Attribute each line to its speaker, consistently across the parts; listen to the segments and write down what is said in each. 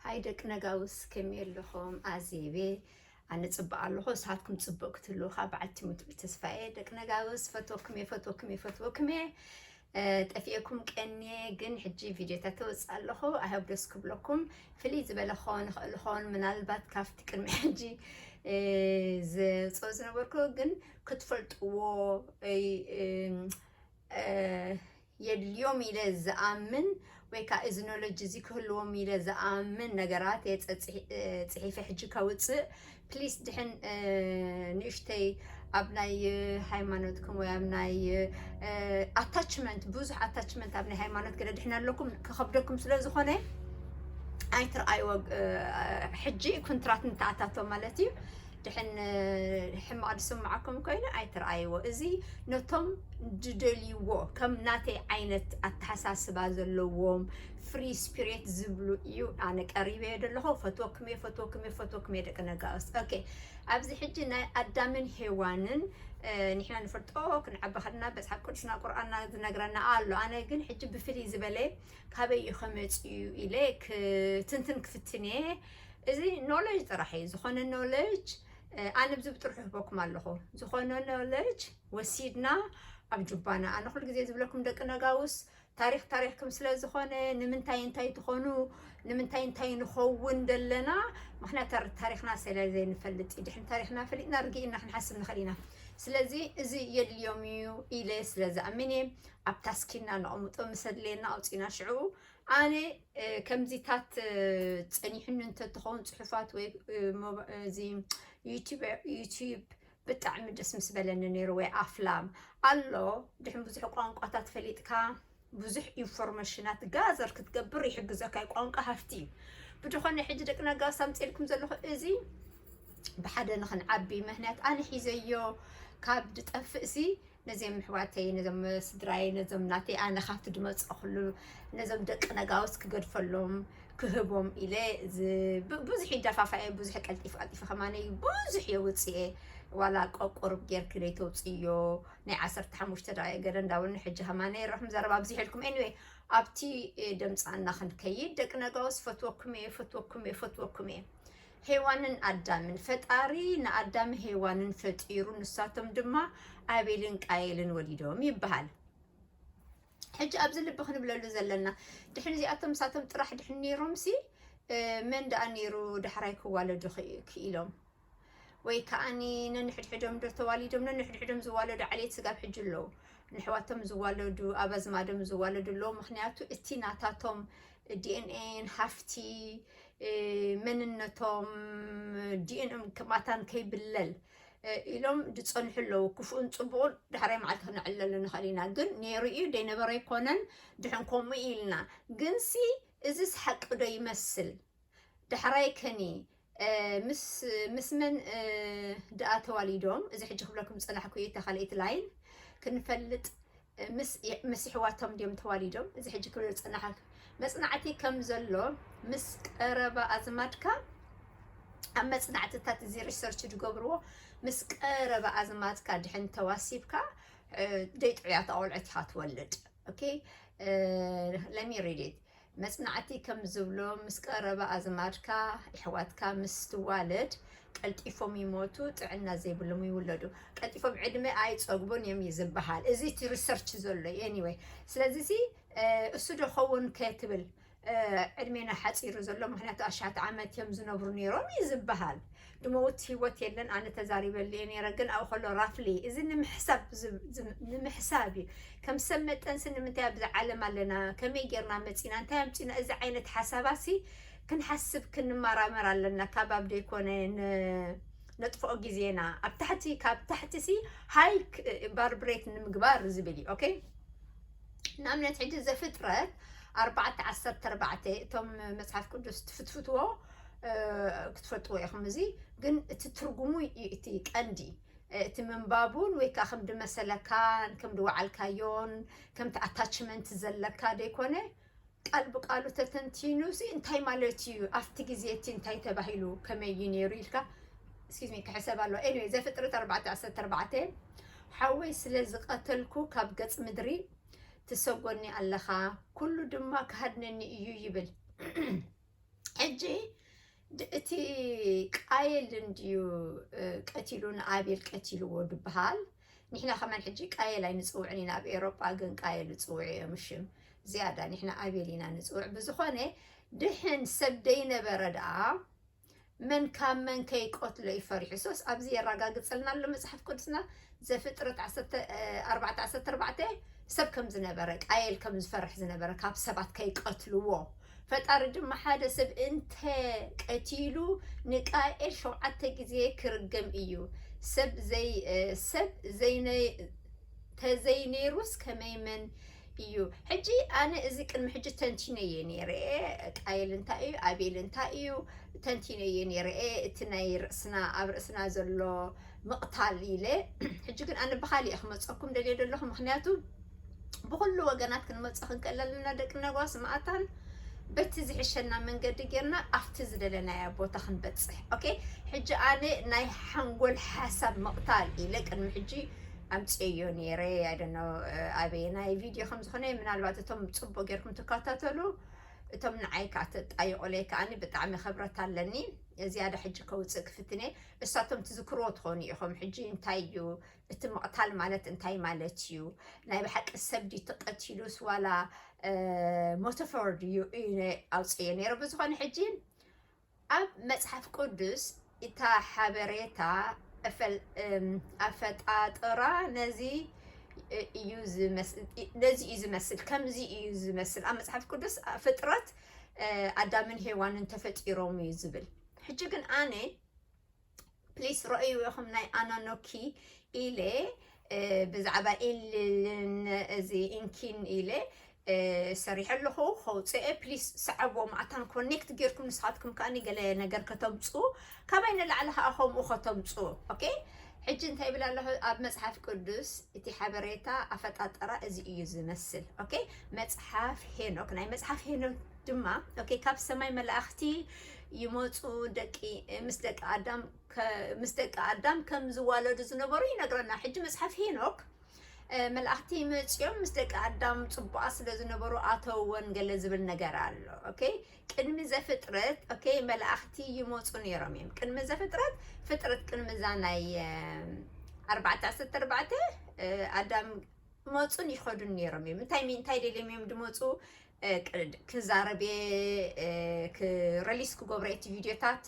Speaker 1: ሃይ ደቂ ነጋውስ ከመይ ኣለኹም ኣዜቤ ኣነ ጽቡቅ ኣለኹ ንስኻትኩም ጽቡቅ ክትህልው ካብ በዓልቲ ሙትዑ ተስፋየ ደቂ ነጋውስ ፈትወኩም እየ ፈትወኩም እየ ፈትወኩም እየ ጠፊኤኩም ቀንየ ግን ሕጂ ቪድዮታት ተወፅእ ኣለኹ ኣይሆብ ደስ ክብለኩም ፍልይ ዝበለ ክኸውን ይኽእል ኸውን ምናልባት ካብቲ ቅድሚ ሕጂ ዘውፅኦ ዝነበርኩ ግን ክትፈልጥዎ የድልዮም ኢለ ዝኣምን ወይ ከኣ እዚ ኖሎጅ እዚ ክህልዎም ኢለ ዝኣምን ነገራት እየ ፅሒፈ ሕጂ ከውፅእ ፕሊስ ድሕን ንእሽተይ ኣብ ናይ ሃይማኖትኩም ወይ ኣብ ናይ ኣታችመንት ብዙሕ ኣታችመንት ኣብ ናይ ሃይማኖት ገለ ድሕን ኣለኩም ክኸብደኩም ስለ ዝኾነ ኣይትርኣይዎ ሕጂ ኩንትራት ንተኣታቶ ማለት እዩ ድሕን ሕማቅ ዝስማዓኩም ኮይኑ ኣይትርኣይዎ እዚ ነቶም ድደልይዎ ከም ናተይ ዓይነት ኣተሓሳስባ ዘለዎም ፍሪ ስፒሬት ዝብሉ እዩ ኣነ ቀሪበዮ ደለኹ ፈትወኩም እየ ፈትወኩም እየ ፈትወኩም እየ ደቂ ነጋውስ ኦኬ ኣብዚ ሕጂ ናይ ኣዳምን ሄዋንን ንሕና ንፈልጦ ክንዓቢ ከለና መጽሓፍ ቅዱስና ቁርኣንና ዝነግረና ኣሎ ኣነ ግን ሕጂ ብፍልይ ዝበለ ካበይ እዩ ከመጽኡ ኢለ ክትንትን ክፍትን እየ እዚ ኖለጅ ጥራሕ እዩ ዝኾነ ኖለጅ ኣነ ብዚ ብጥርሑ ህበኩም ኣለኹ ዝኾነ ኖለጅ ወሲድና ኣብ ጁባና ኣነ ኩሉ ግዜ ዝብለኩም ደቂ ነጋውስ ታሪክ ታሪክኩም ስለ ዝኾነ ንምንታይ እንታይ ትኾኑ ንምንታይ እንታይ ንኸውን ደለና ምክንያት ታሪክና ስለ ዘይንፈልጥ እዩ ድሕን ታሪክና ፈሊጥና ርግኢና ክንሓስብ ንኽእል ኢና ስለዚ እዚ የድልዮም እዩ ኢለ ስለ ዝኣምን እየ ኣብ ታስኪና ነቐምጦ ምስ ኣድለየና ኣውፂና ሽዑ ኣነ ከምዚታት ጸኒሑኒ እንተትኸውን ጽሑፋት ወይ እዚ ዩቲዩብ ብጣዕሚ ደስ ምስ በለኒ ነይሩ ወይ ኣፍላም ኣሎ ድሕን ብዙሕ ቋንቋታት ፈሊጥካ ብዙሕ ኢንፎርሜሽናት ጋዘር ክትገብር ይሕግዘካ እዩ ቋንቋ ሃፍቲ እዩ ብድኾነ ሕጂ ደቂ ነጋስ ኣምፅልኩም ዘለኹ እዚ ብሓደ ንክንዓቢ ምክንያት ኣነ ሒዘዮ ካብ ድጠፍእ ሲ ነዚም ኣሕዋተይ ነዞም ስድራይ ነዞም ናተይ ኣነ ካብቲ ድመጸኹሉ ነዞም ደቂ ነጋውስ ክገድፈሎም ክህቦም ኢለ ብዙሕ ይደፋፋ እየ ብዙሕ ቀልጢፈ ቀልጢፈ ከማነይ ብዙሕ የውፅእ እየ ዋላ ቆቁርብ ጌርኪ ዘይተውፅዮ ናይ ዓሰርተ ሓሙሽተ ደቂ ገለ እንዳበሉ ሕጂ ከማነይ ረኹም ዘረባ ብዚሕልኩም ኤኒዌይ ኣብቲ ደምፃና ክንከይድ ደቂ ነጋውስ ፈትወኩም እየ ፈትወኩም እየ ፈትወኩም እየ ሄዋንን ኣዳምን፣ ፈጣሪ ንኣዳም ሄዋንን ፈጢሩ ንሳቶም ድማ ኣቤልን ቃየልን ወሊዶም ይበሃል። ሕጂ ኣብዚ ልቢ ክንብለሉ ዘለና ድሕሪ እዚኣቶም ምሳቶም ጥራሕ ድሕን ነይሮምሲ መን ደኣ ነይሩ ዳሕራይ ክዋለዱ ክኢሎም ወይ ከዓኒ ነንሕድሕዶም ዶ ተዋሊዶም ነንሕድሕዶም ዝዋለዱ ዓሌት ስጋብ ሕጂ ኣለዉ ንሕዋቶም ዝዋለዱ ኣብ ኣዝማዶም ዝዋለዱ ኣለዉ ምክንያቱ እቲ ናታቶም ዲኤንኤን ሃፍቲ መንነቶም ዲኤንኦም ክማታን ከይብለል ኢሎም ዝፀንሑ ኣለዉ ክፉኡን ፅቡቕን ዳሕራይ መዓልቲ ክነዕለሉ ንኽእል ኢና ግን ነይሩ እዩ ደይነበረ ኣይኮነን ድሕን ከምኡ ኢልና ግንሲ እዚስ ሓቂ ዶ ይመስል ዳሕራይ ከኒ ምስ ምስ መን ድኣ ተዋሊዶም እዚ ሕጂ ክብለኩም ዝጸናሕኩ እታ ካልኣይቲ ላይን ክንፈልጥ ምስ ኣሕዋቶም ድዮም ተዋሊዶም እዚ ሕጂ ክብል ዝጸናሕ መጽናዕቲ ከም ዘሎ ምስ ቀረባ ኣዝማድካ ኣብ መጽናዕትታት እዚ ሪሰርች ዝገብርዎ ምስ ቀረባ ኣዝማድካ ድሕን ተዋሲብካ ደይ ጥዑያት ኣቆልዑት ኢኻ ትወልድ ኦኬ ለሚ ሪድ ኢት መጽናዕቲ ከም ዝብሎ ምስ ቀረባ ኣዝማድካ፣ የሕዋትካ፣ ምስ ትዋለድ ቀልጢፎም ይሞቱ ጥዕና ዘይብሎም ይውለዱ። ቀልጢፎም ዕድመ ኣይጸግቡን እዮም እዩ ዝበሃል። እዚ እቲ ሪሰርች ዘሎ እዩ። ኤኒወይ ስለዚ እዚ እሱ ዶ ኸውን ከትብል ዕድሜና ሓጺሩ ዘሎ ምክንያቱ ኣሽሓት ዓመት እዮም ዝነብሩ ነይሮም እዩ ዝበሃል። ድመውት ሂወት የለን ኣነ ተዛሪበሉ እየ ነይረ ግን ኣብኡ ከሎ ራፍሊ እዚ ንምሕሳብ ንምሕሳብ እዩ ከም ሰብ መጠንሲ ንምንታይ ኣብዚ ዓለም ኣለና ከመይ ጌርና መፂና እንታይ ኣምፂና እዚ ዓይነት ሓሳባሲ ክንሓስብ ክንመራመር ኣለና ካብ ኣብ ደይኮነ ነጥፍኦ ግዜና ኣብ ታሕቲ ካብ ታሕቲ ሲ ሃይ ባርብሬት ንምግባር ዝብል እዩ ኦኬ ንኣብነት ሕጂ ዘፍጥረት ኣርባዕተ ዓሰርተ ኣርባዕተ እቶም መፅሓፍ ቅዱስ ትፍትፍትዎ ክትፈልጥዎ ኢኹም እዚ ግን እቲ ትርጉሙ እዩ እቲ ቀንዲ እቲ ምንባቡን ወይ ከዓ ከምዲ መሰለካን ከምዲ ወዓልካዮን ከምቲ ኣታችመንት ዘለካ ዘይኮነ ቃል ብቃሉ ተተንቲኑ ሲ እንታይ ማለት እዩ ኣብቲ ግዜ እቲ እንታይ ተባሂሉ ከመይ እዩ ነይሩ ኢልካ ስኪዝ ሚ ክሕሰብ ኣለዎ ኤኒዌይ ዘፍጥረት 414 ሓወይ ስለ ዝቐተልኩ ካብ ገጽ ምድሪ ትሰጎኒ ኣለኻ ኩሉ ድማ ክሃድነኒ እዩ ይብል ሕጂ እቲ ቃየል እንድዩ ቀቲሉ ንኣቤል ቀቲልዎ ድበሃል ንሕና ከማን ሕጂ ቃየል ኣይንፅውዕን ኢና ኣብ ኤሮጳ ግን ቃየል ይፅውዑ እዮም ሽም ዝያዳ ንሕና ኣቤል ኢና ንፅውዕ ብዝኾነ ድሕን ሰብ ደይነበረ ደኣ መን ካብ መን ከይቆትሎ እዩ ፈሪሑ ሶስ ኣብዚ የራጋግጸልና ኣሎ መጽሓፍ ቅዱስና ዘፍጥረት ዓሰርተ ኣርባዕተ ዓሰርተ ኣርባዕተ ሰብ ከም ዝነበረ ቃየል ከም ዝፈርሕ ዝነበረ ካብ ሰባት ከይቀትልዎ ፈጣሪ ድማ ሓደ ሰብ እንተ ቀቲሉ ንቃኤል ሸውዓተ ግዜ ክርገም እዩ ሰብ ዘይ እ፣ ሰብ ዘይነ ተዘይ ነይሩስ ከመይ መን እዩ ሕጂ ኣነ እዚ ቅድሚ ሕጂ ተንቲነየ ነይረ ቃየል እንታይ እዩ ኣቤል እንታይ እዩ ተንቲነየ ነይረ እቲ ናይ ርእስና ኣብ ርእስና ዘሎ ምቕታል ኢለ ሕጂ ግን ኣነ ብካሊእ እየ ክመፀኩም ደልየ ዘለኹ ምክንያቱ ብኩሉ ወገናት ክንመፀ ክንክእል ኣለና ደቂ ነጓስ ማእታን በቲ ዝሕሸና መንገዲ ጌርና ኣብቲ ዝደለናያ ቦታ ክንበፅሕ ኦኬ ሕጂ ኣነ ናይ ሓንጎል ሓሳብ ምቕታል ኢለ ቅድሚ ሕጂ ኣምጽኤዮ ኔረ ኣይ ዶንት ኖው ኣበየናይ ቪድዮ ከም ዝኮነ ምናልባት እቶም ጽቡቅ ጌርኩም ትካታተሉ እቶም ንዓይ ከኣ ተጣይቁለይ ከኣኒ ብጣዕሚ ክብረት ኣለኒ ዝያዳ ሕጂ ከውጽእ ክፍትን እየ እሳቶም ትዝክርዎ ትኾኑ ኢኹም ሕጂ እንታይ እዩ እቲ ምቕታል ማለት እንታይ ማለት እዩ ናይ ብሓቂ ሰብ ድዩ ተቐቲሉስ ዋላ ሞተፎር ድዩ ኣውጽዮ ነይረ ብዝኾነ ሕጂ ኣብ መጽሓፍ ቅዱስ እታ ሓበሬታ ኣፈጣጥራ ነዚ እዩ ዝመስል፣ ከምዚ እዩ ዝመስል፣ ኣብ መጽሓፍ ቅዱስ ፍጥረት ኣዳምን ሄዋንን ተፈጢሮም እዩ ዝብል። ሕጂ ግን ኣነ ፕሊስ ረእይዎ ኢኹም ናይ ኣናኖኪ ኢለ ብዛዕባ ኢልልን እዚ ኢንኪን ኢለ ሰሪሐ ኣለኹ ከውፅኤ ፕሊስ ሰዓቦ ማዕታን ኮኔክት ጌርኩም ንስኻትኩም ከኣ ገለ ነገር ከተምፁ ካባይ ንላዕሊ ከዓ ከምኡ ከተምፁ ኦኬ ሕጂ እንታይ ይብል ኣለኹ ኣብ መፅሓፍ ቅዱስ እቲ ሓበሬታ ኣፈጣጠራ እዚ እዩ ዝመስል ኦኬ መፅሓፍ ሄኖክ ናይ መፅሓፍ ሄኖክ ድማ ኦኬ ካብ ሰማይ መላእኽቲ ይመፁ ደቂ ምስ ደቂ ኣዳም ምስ ደቂ ኣዳም ከም ዝዋለዱ ዝነበሩ ይነግረና። ሕጂ መፅሓፍ ሄኖክ መላእክቲ መፅኦም ምስ ደቂ ኣዳም ፅቡቃ ስለ ዝነበሩ ኣተወን ገለ ዝብል ነገር ኣሎ ኦኬ ቅድሚ ዘፍጥረት ኦኬ መላእክቲ ይመፁ ነይሮም እዮም ቅድሚ ዘፍጥረት ፍጥረት ቅድሚ እዛ ናይ ኣርባዕተ ዓሰርተ ኣርባዕተ ኣዳም ይመጹን ይኸዱን ነይሮም እዮም። እንታይ ምንታይ ደልዮም እዮም ድመፁ ክዛረብ ረሊስ ክገብሮ እቲ ቪድዮታት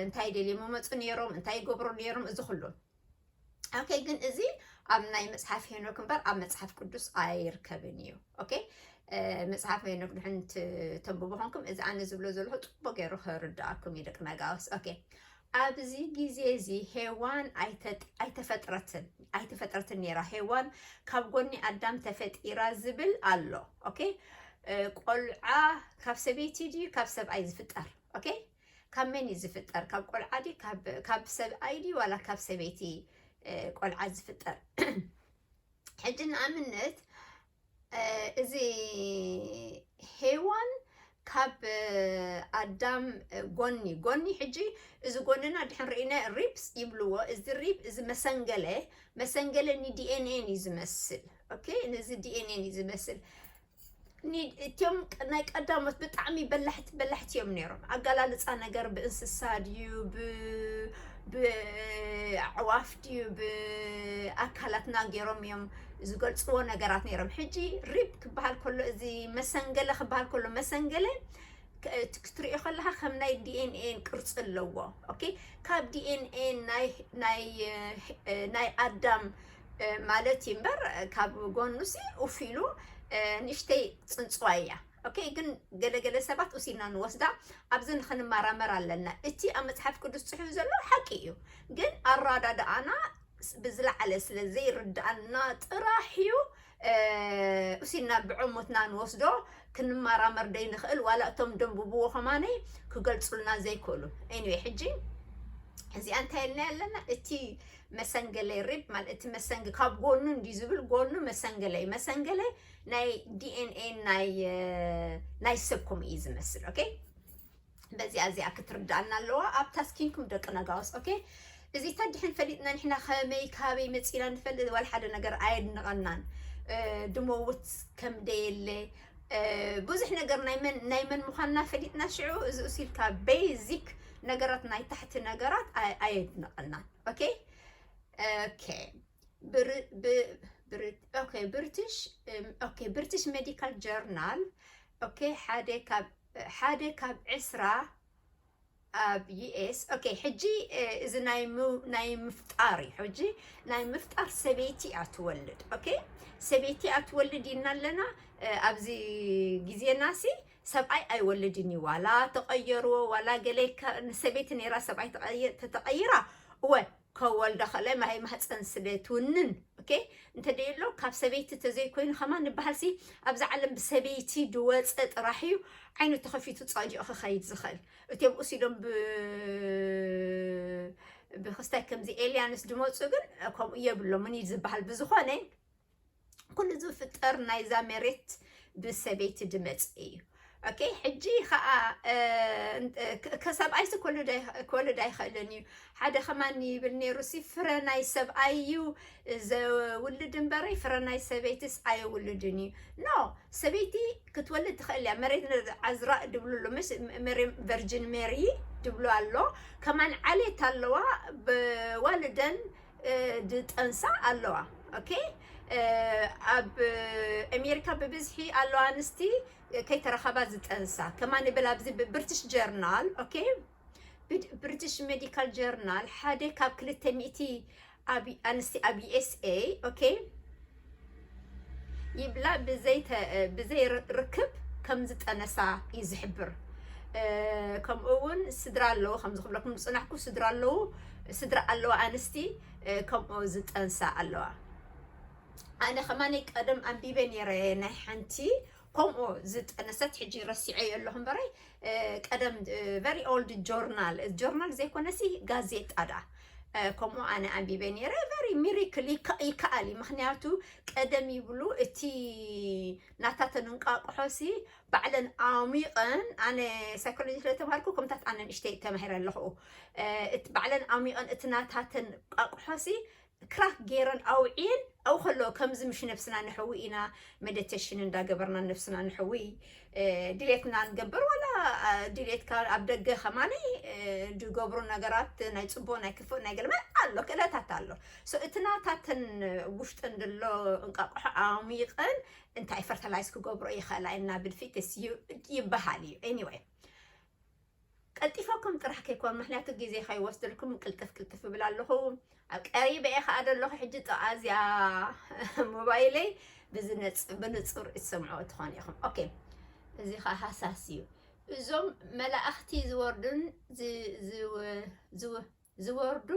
Speaker 1: እንታይ ደልዮም መመፁ ነይሮም እንታይ ይገብሩ ነይሮም እዚ ኩሉ ኦኬ። ግን እዚ ኣብ ናይ መፅሓፍ ሄኖክ እምበር ኣብ መፅሓፍ ቅዱስ ኣይርከብን እዩ። ኦኬ መፅሓፍ ሄኖክ ድሕን ተንብቦ ኮንኩም እዚ ኣነ ዝብሎ ዘለኹ ፅቡቅ ገይሩ ክርዳኣኩም እዩ ደቂ ነጋውስ ኦኬ ኣብዚ ግዜ እዚ ሄዋን ኣይተፈጥረትን ኣይተፈጥረትን ነይራ ሄዋን ካብ ጎኒ ኣዳም ተፈጢራ ዝብል ኣሎ ኦኬ ቆልዓ ካብ ሰበይቲ ድዩ ካብ ሰብኣይ ዝፍጠር ኦኬ ካብ መን እዩ ዝፍጠር ካብ ቆልዓ ድዩ ካብ ሰብኣይ ድዩ ዋላ ካብ ሰበይቲ ቆልዓ ዝፍጠር ሕጂ ንኣብነት እዚ ሄዋን ካብ ኣዳም ጎኒ ጎኒ ሕጂ እዚ ጎንና ድሕን ርኢነ ሪፕስ ይብልዎ እዚ ሪፕ እዚ መሰንገለ መሰንገለ ንዲኤንኤን እዩ ዝመስል ኦኬ ነዚ ዲኤንኤን እዩ ዝመስል እትም ናይ ቀዳሞት ብጣዕሚ በላሕቲ በላሕቲ እዮም ነይሮም። ኣገላልፃ ነገር ብእንስሳ ድዩ ብኣዕዋፍ ድዩ ብ ኣካላትና ጌሮም እዮም ዝገልጽዎ ነገራት ነይሮም ሕጂ ሪፕ ክበሃል ከሎ እዚ መሰንገለ ክበሃል ከሎ መሰንገለ ክትሪኦ ከለካ ከም ናይ ዲኤንኤን ቅርፂ ኣለዎ ኦኬ ካብ ዲኤንኤን ናይ ኣዳም ማለት እዩ እምበር ካብ ጎኑ ሲ ኡፍ ኢሉ ንእሽተይ ፅንፅዋ እያ Ok ግን ገለ ገለ ሰባት ኡሲና ንወስዳ ኣብዚ ንክንማራመር ኣለና እቲ ኣብ መጽሓፍ ቅዱስ ጽሑፍ ዘሎ ሓቂ እዩ ግን ኣራዳድኣና ብዝለዓለ ስለ ዘይርድኣና ጥራሕ እዩ ኡሲና ብዕሙትና ንወስዶ ክንማራመር ደይንክእል ዋላ እቶም ደንብብዎ ከማነይ ክገልጹልና ዘይክእሉ ኤኒዌይ ሕጂ እዚኣ እንታይ ኢልና ኣለና እቲ መሰንገለይ ሪብ ማለት እቲ መሰንግ ካብ ጎኑ እንዲ ዝብል ጎኑ መሰንገለይ መሰንገለይ ናይ ዲኤንኤ ናይ ሰብኩም እዩ ዝመስል ኦኬ በዚኣ እዚኣ ክትርዳእና ኣለዋ ኣብ ታስኪንኩም ደቂ ነጋውስ ኦኬ እዚ ተድሕን ፈሊጥና ንሕና ከመይ ካበይ መፂና ንፈልጥ ዋላ ሓደ ነገር ኣየድንቐናን ድመውት ከም ደየለ ብዙሕ ነገር ናይ መን ምዃንና ፈሊጥና ሽዑ እዚ እሲልካ ቤዚክ ነገራት ናይ ታሕቲ ነገራት ኣየድንቐናን ኦኬ ኦኬ ብርትሽ ሜዲካል ጀርናል ሓደ ካብ ዕስራ ኣብ ዩኤስ ሕጂ እዚ ናይ ምፍጣር እዩ ሕጂ ናይ ምፍጣር ሰበይቲ እያ ትወልድ ሰበይቲ እያ ትወልድ ኢልና ኣለና ኣብዚ ግዜና ሲ ሰብኣይ ኣይወልድን እዩ ዋላ ተቐየርዎ ዋላ ገለ ሰበይቲ ነይራ ሰብኣይ ተቐይራ እወ ከወልዳ ከለ ማይ ማህፀን ስለ ትውንን ኦኬ እንተደየሎ ካብ ሰበይቲ ተዘይኮይኑ ከማ ንበሃልሲ ኣብዚ ዓለም ብሰበይቲ ድወፀ ጥራሕ እዩ ዓይኑ ተኸፊቱ ፃዲኦ ክኸይድ ዝኽእል እትም እሲዶም ብክስታይ ከምዚ ኤልያንስ ድመፁ ግን ከምኡ የብሎምን እዩ ዝበሃል ብዝኾነ ኩሉ ዝፍጠር ናይዛ መሬት ብሰበይቲ ድመፅ እዩ ኦኬ ሕጂ ከዓ ከሰብኣይሲ ክወልድ ኣይኽእልን እዩ ሓደ ከማን ይብል ነይሩሲ ፍረ ናይ ሰብኣይ እዩ ዘውልድ እምበረይ ፍረ ናይ ሰበይትስ ኣየውልድን እዩ ኖ ሰበይቲ ክትወልድ ትኽእል እያ መሬት ዓዝራ ድብልሉ ምስ መሬም ቨርጅን ሜሪ ድብሉ ኣሎ ከማን ዓሌት ኣለዋ ብዋልደን ድጠንሳ ኣለዋ ኦኬ ኣብ ኣሜሪካ ብብዝሒ ኣለዋ ኣንስቲ ከይተረኸባ ዝጠንሳ ከማን ይብል ኣብዚ ብብርትሽ ጀርናል ኦኬ ብብርትሽ ሜዲካል ጀርናል ሓደ ካብ ክልተ ሚእቲ ኣንስቲ ኣብ ዩኤስኤ ኦኬ ይብላ ብዘይ ርክብ ከም ዝጠነሳ እዩ ዝሕብር። ከምኡ እውን ስድራ ኣለዎ ከምዚ ክብለኩም ዝፅናሕኩ ስድራ ኣለዉ ስድራ ኣለዋ ኣንስቲ ከምኡ ዝጠንሳ ኣለዋ ኣነ ከማኒ ቀደም ኣንቢበ ነይረ ናይ ሓንቲ ከምኡ ዝጠነሰት ሕጂ ረሲዐዮ ኣለኹ እምበረይ ቀደም ቨሪ ኦልድ ጆርናል ጆርናል ዘይኮነሲ ጋዜጣ ድኣ ከምኡ ኣነ ኣንቢበ ነይረ ቨሪ ሚሪክል ይከኣል እዩ ምክንያቱ ቀደም ይብሉ እቲ ናታተን እንቋቁሖሲ ባዕለን ኣሚቐን ኣነ ሳይኮሎጂ ስለተማሃርኩ ከምታት ኣነ ንእሽተይ ተማሂረ ኣለኹ ባዕለን ኣሚቐን እቲ ናታተን ቋቁሖሲ ክራክ ገይረን ኣውዕየን ኣብኡ ከለዎ ከምዚ ምሽ ነብስና ነሕዊ ኢና መደተሽን እንዳገበርና ነብስና ነሕዊ ድሌትና ንገብር ዋላ ድሌትካ ኣብ ደገ ከማኒ ዝገብሩ ነገራት ናይ ፅቡቅ ናይ ክፉእ ናይ ገልመ ኣሎ ክእለታት ኣሎ እቲ ናታተን ውሽጠን ዘሎ እንቃቆሖ ኣሚቀን እንታይ ፈርታላይዝ ክገብሮ ይኽእላ ኢና ብድፊትስ ይበሃል እዩ ኤኒወይ ቀልጢፈኩም ጥራሕ ከይኮን ምክንያቱ ግዜ ከይወስደልኩም ቅልጥፍ ቅልጥፍ እብል ኣለኹ ኣብ ቀሪበ እየ ከዓ ዘለኹ ሕጂ ጥቃ እዚኣ ሞባይለይ ብንፁር እትሰምዑ ትኾኑ ኢኹም ኦኬ እዚ ከዓ ሃሳስ እዩ እዞም መላእኽቲ ዝወርዱን ዝወርዱ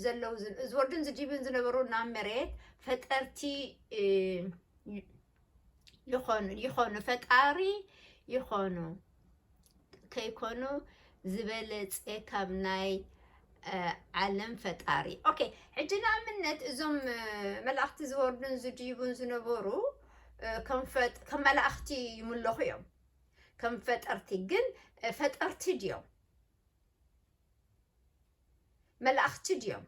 Speaker 1: ዘለዉ ዝወርዱን ዝድዩቡን ዝነበሩ ናብ መሬት ፈጠርቲ ይኾኑ ይኾኑ ፈጣሪ ይኾኑ ከይኮኑ ዝበለፀ ካብ ናይ ዓለም ፈጣሪ ኦኬ። ሕጂ ንኣብነት እዞም መላእኽቲ ዝወርዱን ዝድይቡን ዝነበሩ ከም መላእኽቲ ይምለኹ እዮም፣ ከም ፈጠርቲ ግን ፈጠርቲ ድዮም መላእኽቲ ድዮም?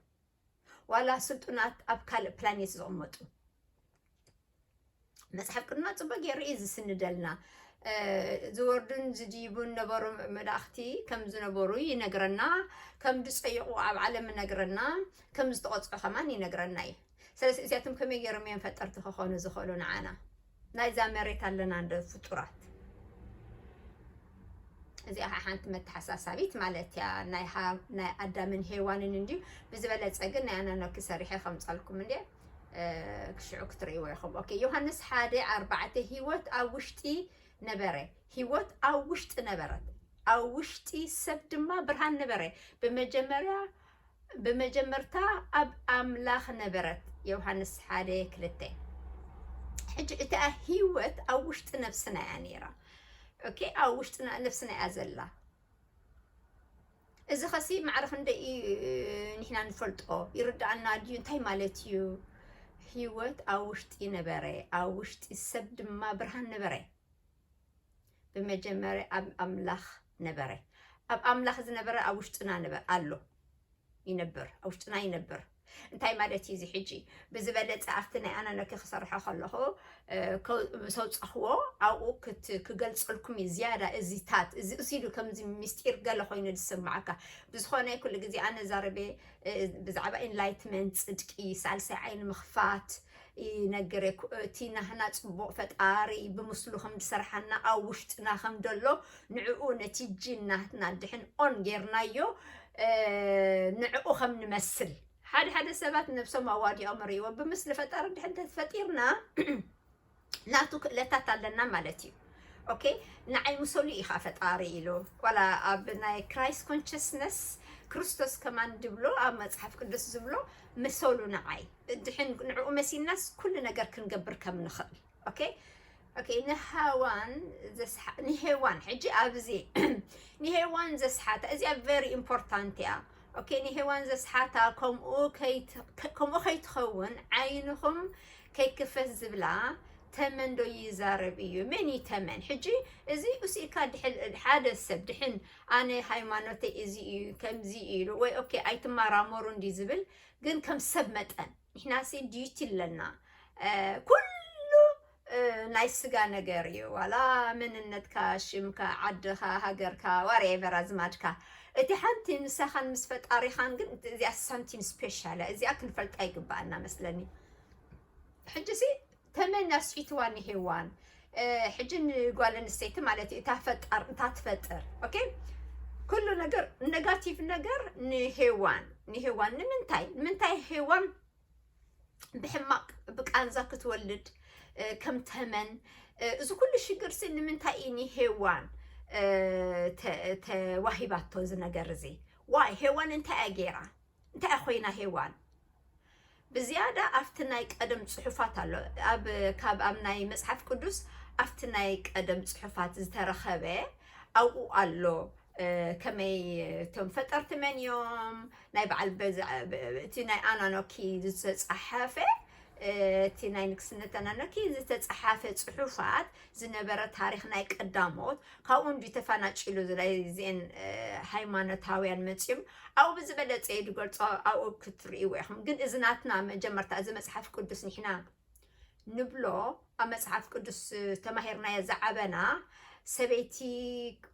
Speaker 1: ዋላ ስልጡናት ኣብ ካልእ ፕላኔት ዝቕመጡ መፅሓፍ ቅዱና ፅቡቅ ገይሩ እዩ ዝስንደልና ዝወርዱን ዝድይቡን ነበሩ መላእኽቲ ከም ዝነበሩ ይነግረና ከም ዝፀይቑ ኣብ ዓለም ይነግረና ከም ዝተቆፅዑ ከማን ይነግረና እዩ ስለዚ እዚኣቶም ከመይ ገይሮም እዮም ፈጠርቲ ክኾኑ ዝኽእሉ ንዓና ናይዛ መሬት ኣለና እንዶ ፍጡራት። እዚኣ ኸኣ ሓንቲ መተሓሳሳቢት ማለት እያ ናይ ናይ ኣዳምን ሄዋንን እንድዩ ብዝበለጸ ግን ናይ ኣናኖኪ ሰሪሐ ከምጸልኩም እንዴ ክሽዑ ክትርእይዎ ኢኹም። ኦኬ ዮሃንስ ሓደ ኣርባዕተ ህይወት ኣብ ውሽጢ ነበረ ህይወት ኣብ ውሽጢ ነበረት ኣብ ውሽጢ ሰብ ድማ ብርሃን ነበረ ብመጀመርያ ብመጀመርታ ኣብ ኣምላኽ ነበረት ዮውሃንስ ሓደ ክልተ ሕጂ እታ ህይወት ኣብ ውሽጢ ነብስና እያ ነይራ ኦኬ ኣብ ውሽጢ ነብስና እያ ዘላ እዚ ኸሲ ማዕረ ክንደይ ንሕና ንፈልጦ ይርዳኣና ድዩ እንታይ ማለት እዩ ህይወት ኣብ ውሽጢ ነበረ ኣብ ውሽጢ ሰብ ድማ ብርሃን ነበረ ብመጀመርያ ኣብ ኣምላኽ ነበረ፣ ኣብ ኣምላኽ ዝነበረ ኣብ ውሽጥና ነበረ ኣሎ ይነብር፣ ኣብ ውሽጥና ይነብር። እንታይ ማለት እዩ እዚ ሕጂ ብዝበለፀ ኣብቲ ናይ ኣናነኪ ክሰርሖ ከለኹ እ፣ ከ- ምስ ኣውፃኽዎ ኣብኡ ክት- ክገልፀልኩም እዩ ዝያዳ እዚታት እዚ እዚ ኢሉ ከምዚ ምስጢር ገለ ኮይኑ ዝስምዓካ ብዝኾነ ኩሉ ግዜ ኣነ ዛረበ እ፣ ብዛዕባ ኢንላይትመንት ፅድቂ ሳልሳይ ዓይኒ ምኽፋት ይነግር እየ እቲ ናህና ጽቡቅ ፈጣሪ ብምስሉ ከም ዝሰርሓና ኣብ ውሽጥና ከም ደሎ ንዕኡ ነቲ ጂን ናትና ድሕን ኦን ጌርናዮ ንዕኡ ከም ንመስል ሓደ ሓደ ሰባት ነብሶም ኣዋዲኦም ርእይዎ ብምስሊ ፈጣሪ ድሕን ተፈጢርና ናቱ ክእለታት ኣለና ማለት እዩ ኦኬ ንዓይ ምሰሉ ኢኻ ፈጣሪ ኢሉ ዋላ ኣብ ናይ ክራይስት ኮንሽስነስ ክርስቶስ ከማን ድብሎ ኣብ መፅሓፍ ቅዱስ ዝብሎ ምሰሉ ንዓይ ድሕን ንዕኡ መሲልናስ ኩሉ ነገር ክንገብር ከም ንኽእል ኦኬ ኦኬ ንሃዋን ዘስሓ ንሄዋን ሕጂ ኣብዚ ንሄዋን ዘስሓታ እዚኣ ቨሪ ኢምፖርታንት እያ ኦኬ ንሄዋን ዘስሓታ ከምኡ ከምኡ ከይትኸውን ዓይንኹም ከይክፈት ዝብላ ተመን ዶ ይዛረብ እዩ መን እዩ ተመን ሕጂ እዚ እሲእካ ሓደ ሰብ ድሕን ኣነ ሃይማኖተይ እዚ እዩ ከምዚ ኢሉ ወይ ኦኬ ኣይትመራመሩ እንዲ ዝብል ግን ከም ሰብ መጠን ንሕናሲ ዲዩቲ ኣለና ኩሉ ናይ ስጋ ነገር እዩ ዋላ መንነትካ ሽምካ ዓድኻ ሃገርካ ዋሬቨር ኣዝማድካ እቲ ሓንቲ ንሳኻን ምስ ፈጣሪኻን ግን እዚኣ ሳንቲም ስፔሻል እያ እዚኣ ክንፈልጣ ይግባኣና መስለኒ ሕጂ ሲ ተመን ኣስዒትዋ ንሄዋን ሕጂ ንጓል ኣንስተይቲ ማለት እዩ እታ ፈጣር እታ ትፈጥር ኦኬ ኩሉ ነገር ነጋቲቭ ነገር ንሄዋን ንሄዋን ንምንታይ ንምንታይ ሄዋን ብሕማቅ ብቃንዛ ክትወልድ እ፣ ከም ተመን እ፣ እዚ ኩሉ ሽግር ሲ ንምንታይ እዩ ንሄዋን እ፣ ተ- ተዋሂባቶ እዚ ነገር እዚ ዋይ ሄዋን እንታይ እያ ገይራ እንታይ ኮይና ሄዋን ብዝያዳ ኣብቲ ናይ ቀደም ጽሑፋት ኣሎ ኣብ ካብ ኣብ ናይ መጽሓፍ ቅዱስ ኣብቲ ናይ ቀደም ጽሑፋት ዝተረኸበ ኣብኡ ኣሎ ከመይ እቶም ፈጠርቲ መን እዮም ናይ በዓል እቲ ናይ ኣናኖኪ ዝተፃሓፈ እቲ ናይ ንግስነት ኣናኖኪ ዝተፃሓፈ ፅሑፋት ዝነበረ ታሪክ ናይ ቀዳሞት ካብኡ እንዲ ተፈናጭሉ ዝላይዜን ሃይማኖታውያን መፅም ኣብኡ ብዝበለጸ ኢዩ ዝገልጾ ኣብኡ ክትርእይዎ ኢኹም ግን እዚ ናትና መጀመርታ እዚ መጽሓፍ ቅዱስ ንሕና ንብሎ ኣብ መጽሓፍ ቅዱስ ተማሂርናዮ ዝዓበና ሰበይቲ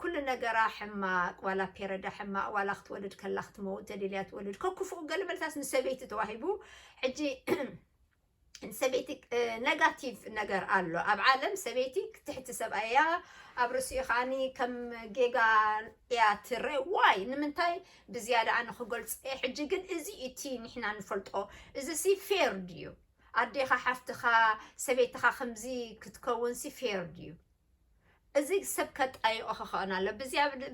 Speaker 1: ኩሉ ነገራ ሕማቅ ዋላ ፔረዳ ሕማቅ ዋላ ክትወልድ ከላ ክትመውት ተደልያ ትወልድ ከኩፉኡ ገለ መልታት ንሰበይቲ ተዋሂቡ ሕጂ ሰበይቲ ነጋቲቭ ነገር ኣሎ ኣብ ዓለም ሰበይቲ ትሕቲ ሰብኣይ እያ ኣብ ርእሲኡ ከዓኒ ከም ጌጋ እያ ትረ ዋይ ንምንታይ ብዝያዳ ኣነ ክገልፆ እየ ሕጂ ግን እዚ እቲ ንሕና ንፈልጦ እዚ ሲ ፌር ድዩ ኣዴኻ ሓፍትኻ ሰበይትኻ ከምዚ ክትከውን ሲ ፌር ድዩ እዚ ሰብ ከጣይቆ ክኸእን ኣሎ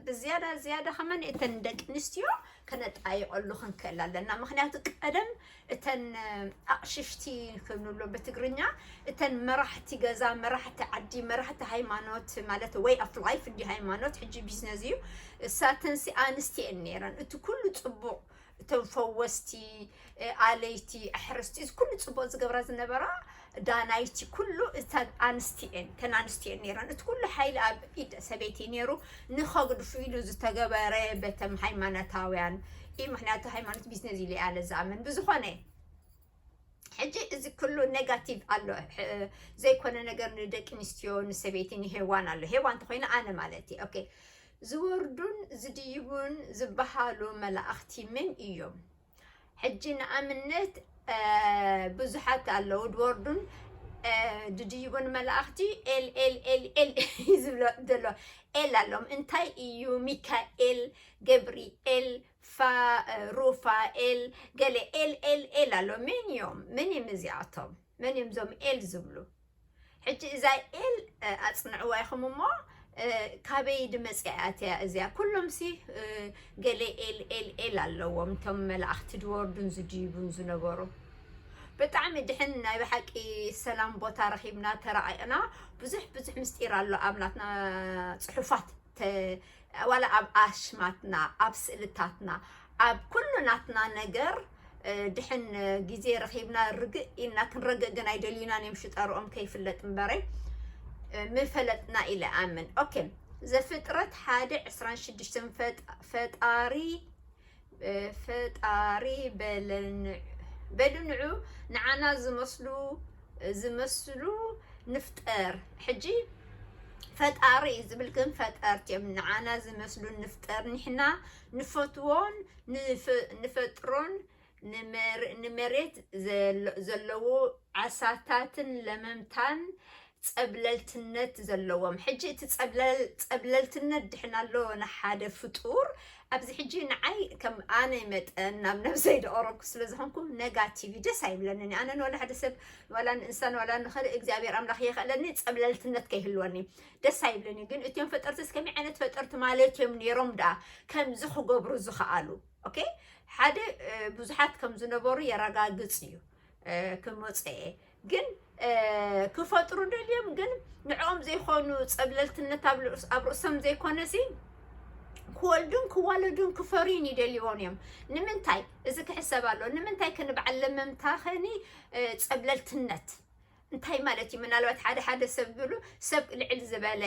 Speaker 1: ብዝያዳ ዝያዳ ከመን እተን ደቂ ኣንስትዮ ከነጣይቀሉ ክንክእል ኣለና ምክንያቱ ቀደም እተን ኣቕሽሽቲ ክንብሎ ብትግርኛ እተን መራሕቲ ገዛ መራሕቲ ዓዲ መራሕቲ ሃይማኖት ማለት ወይ ኣፍ ላይፍ እንዲ ሃይማኖት ሕጂ ቢዝነስ እዩ እሳተን ሲ ኣንስትየን ነይረን እቲ ኩሉ ፅቡቕ እቶም ፈወስቲ ኣለይቲ ኣሕርስቲ እዚ ኩሉ ፅቡቅ ዝገብራ ዝነበራ ዳናይቲ ኩሉ እተን ኣንስቲ እየን እተን ኣንስቲ እየን ነይረን እቲ ኩሉ ሓይሊ ኣብ ኢድ ሰበይቲ ነይሩ ንኸግድፉ ኢሉ ዝተገበረ በተም ሃይማኖታውያን እዩ ምክንያቱ ሃይማኖት ቢዝነስ ኢለ ኣለ ዝኣምን ብዝኾነ ሕጂ እዚ ኩሉ ነጋቲቭ ኣሎ ዘይኮነ ነገር ንደቂ ኣንስትዮ ንሰበይቲ ንሄዋን ኣሎ ሄዋን እንተኮይኑ ኣነ ማለት እዩ ኦኬ ዝወርዱን ዝድይቡን ዝበሃሉ መላእኽቲ መን እዮም ሕጂ ንኣብነት ብዙሓት ኣለዉ ድወርዱን ድድይቡን መላእኽቲ ኤል ኤል ኤል ኤል እዩ ዝብሎ ዘሎ ኤል ኣሎም እንታይ እዩ ሚካኤል ገብርኤል ፋእ ሩፋኤል ገለ ኤል ኤል ኤል ኣሎ መን እዮም መን እዮም እዚኣቶም መን እዮም ዞም ኤል ዝብሉ ሕጂ እዛ ኤል ኣጽንዕዋ ኢኹም እሞ ካበይ ድመፅኣት እያ እዚያ ኩሎም ሲ ገለ ኤል ኤል ኤል ኣለዎም እቶም መላእኽቲ ድወርዱን ዝድይቡን ዝነበሩ ብጣዕሚ ድሕን ናይ ብሓቂ ሰላም ቦታ ረኺብና ተራቂቕና ብዙሕ ብዙሕ ምስጢር ኣሎ ኣብ ናትና ፅሑፋት ተ ዋላ ኣብ ኣሽማትና ኣብ ስእልታትና ኣብ ኩሉ ናትና ነገር እ፣ ድሕን እ፣ ግዜ ረኺብና ርግእ ኢልና ክንረግእ ግን ኣይደልዩናን እዮም ሽጠርኦም ከይፍለጥ እምበረይ እ፣ ምፈለጥና ኢለ ኣምን ኦኬ ዘፍጥረት ሓደ ዕስራን ሽዱሽተን ፈጣ- ፈጣሪ ፈጣሪ በሉ ንዑ ንዓና ዝመስሉ ዝመስሉ ንፍጠር ሕጂ ፈጣሪ እዩ ዝብል ግን ፈጠርቲ እዮም ንዓና ዝመስሉ ንፍጠር ንሕና ንፈትዎን ንፈጥሮን ንመሬት ዘለዎ ዓሳታትን ለመምታን ጸብለልትነት ዘለዎም ሕጂ እቲ ጸብለልትነት ድሕን ኣሎ ንሓደ ፍጡር ኣብዚ ሕጂ ንዓይ ከም ኣነ መጠን ናብ ነብሰይ ደቀረብኩ ስለ ዝኾንኩ ነጋቲቭ ደስ ኣይብለንን እዩ ኣነ ንዋላ ሓደ ሰብ ንዋላ ንእንሳ ንዋላ ንኸልእ እግዚኣብሔር ኣምላኽ የኽእለኒ ጸብለልትነት ከይህልወኒ ደስ ኣይብልን እዩ ግን እትዮም ፈጠርትስ ከመይ ዓይነት ፈጠርቲ ማለት እዮም ነይሮም ደኣ ከምዚ ክገብሩ ዝኸኣሉ ኦኬ ሓደ ብዙሓት ከም ዝነበሩ የረጋግጽ እዩ ክመጽ እየ ግን ክፈጥሩ ደልዮም ግን ንዕኦም ዘይኮኑ ፀብለልትነት ኣብ ርእሶም ዘይኮነ ሲ ክወልዱን ክዋለዱን ክፈርዩን ይደልዎን እዮም ንምንታይ እዚ ክሕሰብ ኣሎ ንምንታይ ክንብዓል ለመምታ ኸኒ ፀብለልትነት እንታይ ማለት እዩ ምናልባት ሓደ ሓደ ሰብ ዝብሉ ሰብ ልዕል ዝበለ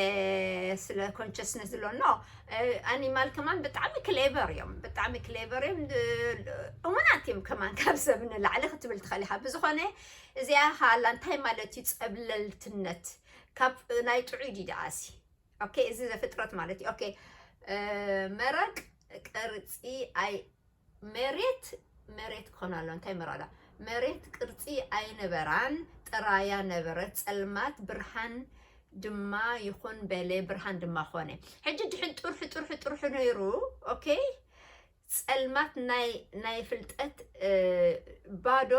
Speaker 1: ስለ ኮንሽስነስ ዝሎ ኖ ኣኒማል ከማን ብጣዕሚ ክሌቨር እዮም ብጣዕሚ ክሌቨር እዮም እሙናት እዮም ከማን ካብ ሰብ ንላዕሊ ክትብል ትኽእል ኢኻ ብዝኾነ እዚኣ ሃላ እንታይ ማለት እዩ ፀብለልትነት ካብ ናይ ጥዑይ ዲዳኣሲ ኦኬ እዚ ዘፍጥረት ማለት እዩ ኦኬ መረቅ ቅርፂ ኣይ መሬት መሬት ክኾና ኣለዋ እንታይ መራዳ መሬት ቅርጺ ኣይነበራን ጥራያ ነበረት ጸልማት ብርሃን ድማ ይኹን በለ ብርሃን ድማ ኾነ ሕጂ ድሕን ጥርሑ ጥርሑ ጥርሑ ነይሩ ኦኬ ጸልማት ናይ ናይ ፍልጠት እ፣ ባዶ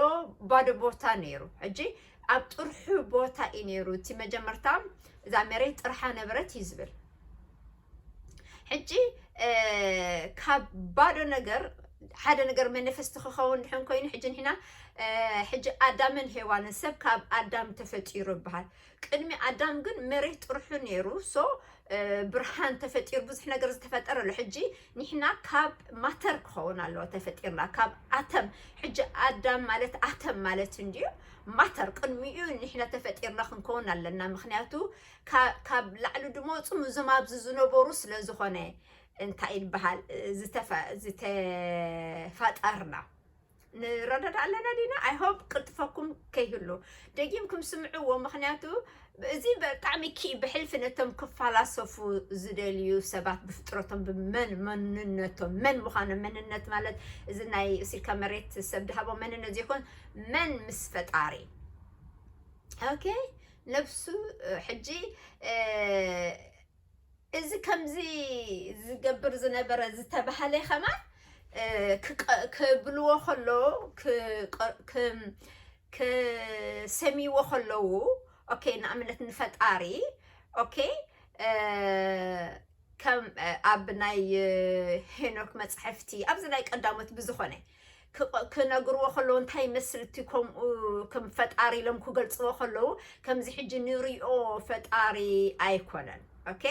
Speaker 1: ባዶ ቦታ ነይሩ ሕጂ ኣብ ጥርሑ ቦታ እዩ ነይሩ እቲ መጀመርታ እዛ መሬት ጥርሓ ነበረት እዩ ዝብል ሕጂ ካብ ባዶ ነገር ሓደ ነገር መኒፈስቲ ክኸውን ድሕን ኮይኑ ሕጂ ንሕና ሕጂ ኣዳምን ሄዋንን ሰብ ካብ ኣዳም ተፈጢሩ ይበሃል ቅድሚ ኣዳም ግን መሬት ጥርሑ ነይሩ ሶ ብርሃን ተፈጢሩ ብዙሕ ነገር ዝተፈጠረ ኣሎ ሕጂ ንሕና ካብ ማተር ክኸውን ኣለዎ ተፈጢርና ካብ ኣተም ሕጂ ኣዳም ማለት ኣተም ማለት እንድዩ ማተር ቅድሚኡ ንሕና ተፈጢርና ክንከውን ኣለና ምክንያቱ ካብ ላዕሊ ድመፁ ምዞም ኣብዚ ዝነበሩ ስለ ዝኾነ እንታይ ይበሃል ዝተፋጠርና ንረዳዳ ኣለና ዲና ኣይሆፕ ቅልጥፈኩም ከይህሉ ደጊምኩም ስምዕዎ ምክንያቱ እዚ ብጣዕሚ ኪ ብሕልፊ ነቶም ክፈላሰፉ ዝደልዩ ሰባት ብፍጥረቶም ብመን መንነቶም መን ምዃኖም መንነት ማለት እዚ ናይ ሲልካ መሬት ሰብ ድሃቦ መንነት ዘይኮን መን ምስ ፈጣሪ ኦኬ ነብሱ ሕጂ እዚ ከምዚ ዝገብር ዝነበረ ዝተባሃለ ከማን ክብልዎ ከለዉ ክሰሚዎ ከለዉ ኦኬ ንኣብነት ንፈጣሪ ኦኬ ከም ኣብ ናይ ሄኖክ መፅሕፍቲ ኣብዚ ናይ ቀዳሞት ብዝኾነ ክቐ- ክነግርዎ ከለዉ እንታይ ይመስል እቲ ከምኡ ከም ፈጣሪ ኢሎም ክገልፅዎ ከለዉ ከምዚ ሕጂ ንሪኦ ፈጣሪ ኣይኮነን ኦኬ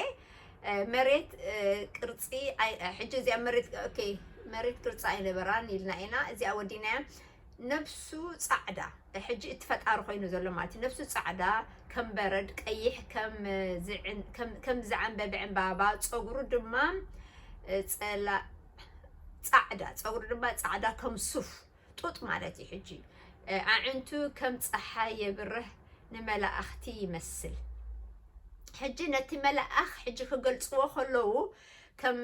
Speaker 1: እ፣ መሬት እ፣ ቅርፂ ኣይ- እ፣ ሕጂ እዚኣ መሬት ኦኬ መሬት ቅርፂ ኣይነበራን ኢልና ኢና እዚኣ ወዲናያ ነብሱ ፃዕዳ ሕጂ እቲ ፈጣሪ ኮይኑ ዘሎ ማለት እዩ ነብሱ ፃዕዳ ከም በረድ ቀይሕ ከም እ፣ ዝዕን- ከም- ከም ዝዓንበበ ዕምባባ ፀጉሩ ድማ እ፣ ፀላ ጻዕዳ ፀጉሪ ድማ ጻዕዳ ከም ሱፍ ጡጥ ማለት እዩ ሕጂ ኣዕንቱ ከም ፀሓይ የብርህ ንመላእኽቲ ይመስል ሕጂ ነቲ መላእኽ ሕጂ ክገልፅዎ ከለዉ ከም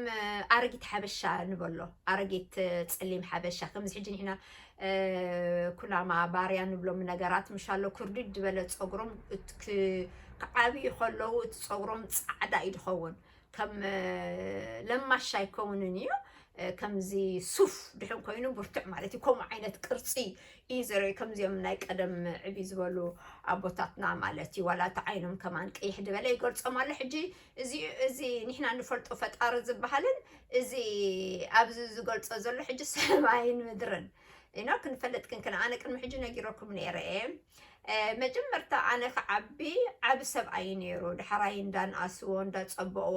Speaker 1: ኣረጊት ሓበሻ ንበሎ ኣረጊት ፀሊም ሓበሻ ከምዚ ሕጂ ንሕና ኩናማ ባርያ ንብሎም ነገራት ምሻሎ ኩርድድ ዝበለ ፀጉሮም ክዓብዩ ከለዉ እቲ ፀጉሮም ፃዕዳ እዩ ዝኸውን ከም ለማሽ ኣይከውንን እዩ ከምዚ ሱፍ ድሕን ኮይኑ ብርቱዕ ማለት እዩ ከምኡ ዓይነት ቅርፂ እዩ ዘርኢ ከምዚኦም ናይ ቀደም ዕቢ ዝበሉ ኣቦታትና ማለት እዩ ዋላ እቲ ዓይኖም ከማን ቀይሕ ድበለ ይገልፆም ኣሎ ሕጂ እዚ ንሕና ንፈልጦ ፈጣሪ ዝበሃልን እዚ ኣብዚ ዝገልፆ ዘሎ ሕጂ ሰማይን ምድርን ኢኖ ክንፈልጥ ክንክን ኣነ ቅድሚ ሕጂ ነጊረኩም ነይረ እየ መጀመርታ ኣነ ክዓቢ ዓብ ሰብኣይ እዩ ነይሩ ዳሕራይ እንዳንኣስዎ እንዳፀበእዎ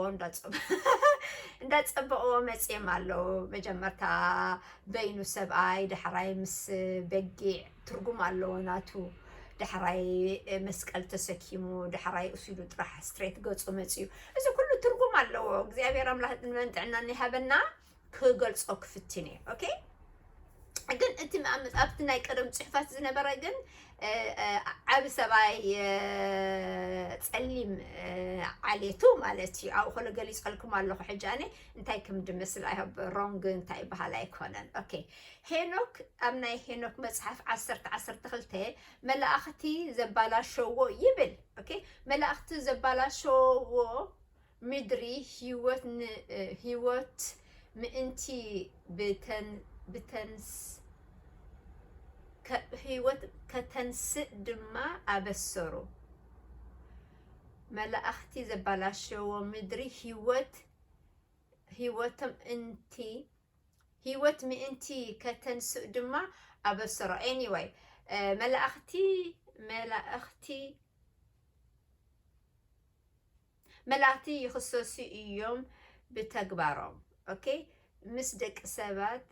Speaker 1: እንዳፀበእዎ መፅም ኣለዉ መጀመርታ በይኑ ሰብኣይ ዳሕራይ ምስ በጊዕ ትርጉም ኣለዎ ናቱ ዳሕራይ መስቀል ተሰኪሙ ዳሕራይ እሱሉ ጥራሕ ስትሬት ገፁ መፅዩ እዚ ኩሉ ትርጉም ኣለዎ እግዚኣብሔር ኣምላክ ዕድመን ጥዕናን ይሃበና ክገልጾ ክፍትን እየ ኦኬ ግን እቲ ኣብቲ ናይ ቀደም ፅሑፋት ዝነበረ ግን ዓብ ሰባይ ፀሊም ዓሌቱ ማለት እዩ ኣብኡ ከሎ ገሊፀልኩም ኣለኹ ሕጂ ኣነ እንታይ ከም ድመስል ኣይሃብ ሮንግ እንታይ ይበሃል ኣይኮነን ኦኬ ሄኖክ ኣብ ናይ ሄኖክ መፅሓፍ ዓሰርተ ዓሰርተ ክልተ መላእኽቲ ዘባላሸዎ ይብል ኦኬ መላእኽቲ ዘባላሸዎ ምድሪ ህይወት ን ህይወት ምእንቲ ህይወት ከተንስእ ድማ ኣበሰሩ። መላእኽቲ ዘበላሸዎ ምድሪ ህይወት ህይወቶም እንቲ ህይወት ምእንቲ ከተንስእ ድማ ኣበሰሩ። ኤኒወይ መላእኽቲ መላእኽቲ መላእክቲ ይኽሰሱ ኢዮም ብተግባሮም ok ምስ ደቂ ሰባት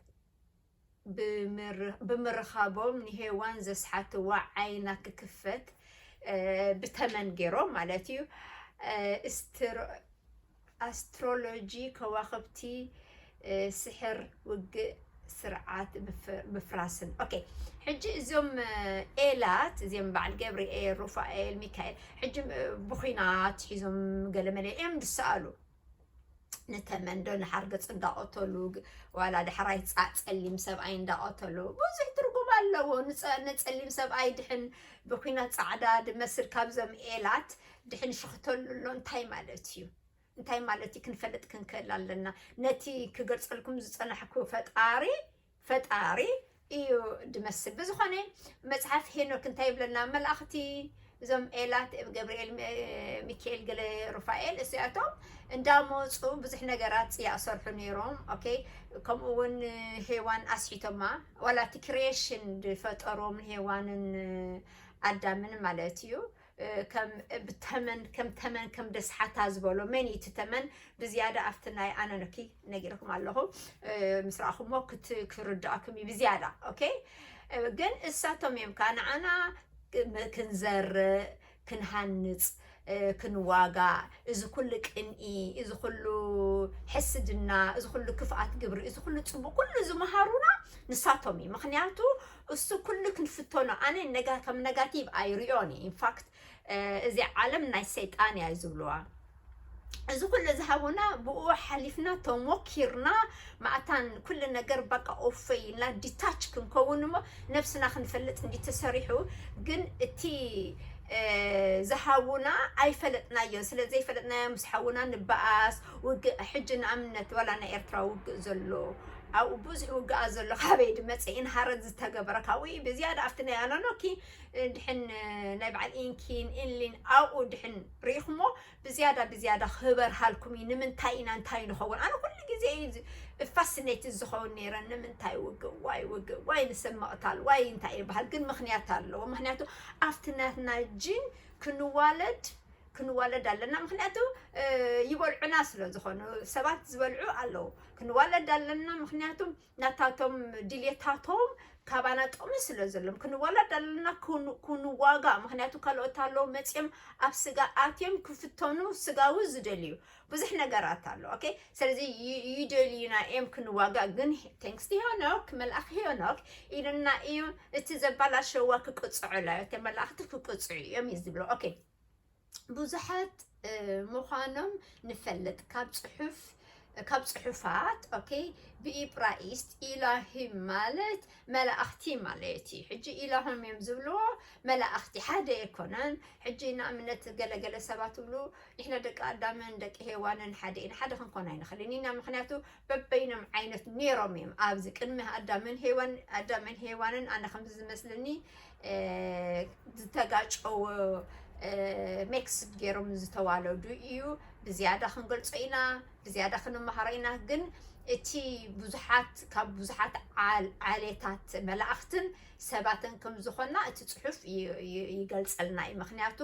Speaker 1: ብምርኻቦም ንሄዋን ዘስሓትዋ ዓይና ክክፈት ብተመን ጌሮም ማለት ኢዩ ኣስትሮሎጂ ከዋኽብቲ ስሕር ውግእ ስርዓት ምፍራስን ኦኬ ሕጂ እዞም ኤላት እዚኦም በዓል ገብርኤል ሩፋኤል ሚካኤል ሕጂ ብኩናት ሒዞም ገለመለ እዮም ዝሰኣሉ ንተመንዶ ንሓርገፅ እንዳቐተሉ ዋላ ዳሕራይ ፀሊም ሰብኣይ እንዳቐተሉ ብዙሕ ትርጉም ኣለዎ። ንፀሊም ሰብኣይ ድሕን ብኩናት ፃዕዳ ድመስል ካብዞም ኤላት ድሕን ሽኽተሉ ኣሎ እንታይ ማለት እዩ? እንታይ ማለት እዩ ክንፈልጥ ክንክእል ኣለና። ነቲ ክገልጸልኩም ዝጸናሕኩ ፈጣሪ ፈጣሪ እዩ ድመስል። ብዝኾነ መጽሓፍ ሄኖክ እንታይ ይብለና? መላእኽቲ እዞም ኤላት ገብርኤል ሚካኤል ገለ ሩፋኤል እዚኣቶም እንዳመፁ ብዙሕ ነገራት ፅያ ሰርሑ ነይሮም ኦኬ ከምኡ እውን ሄዋን ኣስሒቶማ ዋላ እቲ ክሬሽን ዝፈጠሮም ሄዋንን ኣዳምን ማለት እዩ ከም ተመን ከም ተመን ከም ደስሓታ ዝበሎ መን እዩ እቲ ተመን ብዝያዳ ኣብቲ ናይ ኣነነኪ ነጊርኩም ኣለኹ ምስ ረኣኹሞ ክርድኣኩም እዩ ብዝያዳ ኦኬ ግን እሳቶም እዮም ከዓ ንዓና ክንዘርእ ክንሃንፅ ክንዋጋ እዚ ኩሉ ቅንኢ እዚ ኩሉ ሕስድና እዚ ኩሉ ክፍኣት ግብሪ እዚ ኩሉ ፅቡቅ ኩሉ ዝመሃሩና ንሳቶም እዩ ምክንያቱ እሱ ኩሉ ክንፍተኖ ኣነ ነጋ ከም ነጋቲቭ ኣይሪኦን እየ ኢንፋክት እዚ ዓለም ናይ ሰይጣን እያ ዝብልዋ እዚ ኩሉ ዝሃቡና ብኡ ሓሊፍና ተሞኪርና ማእታን ኩሉ ነገር በቃ ኦፈ ኢልና ዲታች ክንከውን እሞ ነብስና ክንፈልጥ እንዲ ተሰሪሑ ግን እቲ ዝሃቡና ኣይፈለጥናዮን ስለ ዘይፈለጥናዮ ምስ ሓውና ንበኣስ ውግእ ሕጂ ንኣብነት ዋላ ናይ ኤርትራ ውግእ ዘሎ ኣብኡ ብዙሕ ውግኣት ዘሎ ካበይ ድመፅእን ሃረር ዝተገበረ ካብኡ ብዝያዳ ኣብቲ ናይ ኣኖኖኪ ድሕን ናይ በዓል ኢንኪን ኢንሊን ኣብኡ ድሕን ርኢኹሞ ብዝያዳ ብዝያዳ ክበርሃልኩም እዩ ንምንታይ ኢና እንታይ ንኸውን ኣነ ኩሉ ግዜ እዩ ፋስኔት ዝኸውን ነይረ ንምንታይ ውግእ ዋይ ውግእ ዋይ ንሰብ መቕታል ዋይ እንታይ ይበሃል ግን ምክንያት ኣለዎ ምክንያቱ ኣብቲ ናትና ጂን ክንዋለድ ክንዋለድ ኣለና ምክንያቱ ይበልዑና ስለ ዝኾኑ ሰባት ዝበልዑ ኣለዉ ክንዋለድ ኣለና ምክንያቱ ናታቶም ድልየታቶም ካባና ጥቕሚ ስለ ዘሎም ክንዋለድ ኣለና ክንዋጋ ምክንያቱ ካልኦት ኣለዉ መፅኦም ኣብ ስጋ ኣትዮም ክፍተኑ ስጋዊ ዝደልዩ ብዙሕ ነገራት ኣሎ ኦኬ ስለዚ ይደልዩና እዮም ክንዋጋ ግን ቴንክስ ሄኖክ መልኣኽ ሄኖክ ኢሉና እዩ እቲ ዘባላሸዋ ክቅፅዑላ እተ መላእኽቲ ክቅፅዑ እዮም እዩ ዝብሎ ኦኬ ብዙሓት ምዃኖም ንፈልጥ ካብ ጽሑፍ ካብ ጽሑፋት ኦኬ ብኢብራይስጥ ኢላሂም ማለት መላእኽቲ ማለት እዩ ሕጂ ኢላሆም እዮም ዝብልዎ መላእኽቲ ሓደ ኣይኮነን ሕጂ ንኣብነት ገለገለ ሰባት ብሉ ንሕና ደቂ ኣዳምን ደቂ ሄዋንን ሓደ ኢና ሓደ ክንኮን ኣይንኽእልን ኢና ምክንያቱ በበይኖም ዓይነት ነይሮም እዮም ኣብዚ ቅድሚ ኣዳምን ሄዋን ኣዳምን ሄዋንን ኣነ ከምዚ ዝመስልኒ ዝተጋጨወ ሜክስ ገይሮም ዝተዋለዱ እዩ ብዝያዳ ክንገልፆ ኢና ብዝያዳ ክንመሃሮ ኢና ግን እቲ ብዙሓት ካብ ብዙሓት ዓሌታት መላእኽትን ሰባትን ከም ዝኾና እቲ ፅሑፍ ይገልፀልና እዩ ምክንያቱ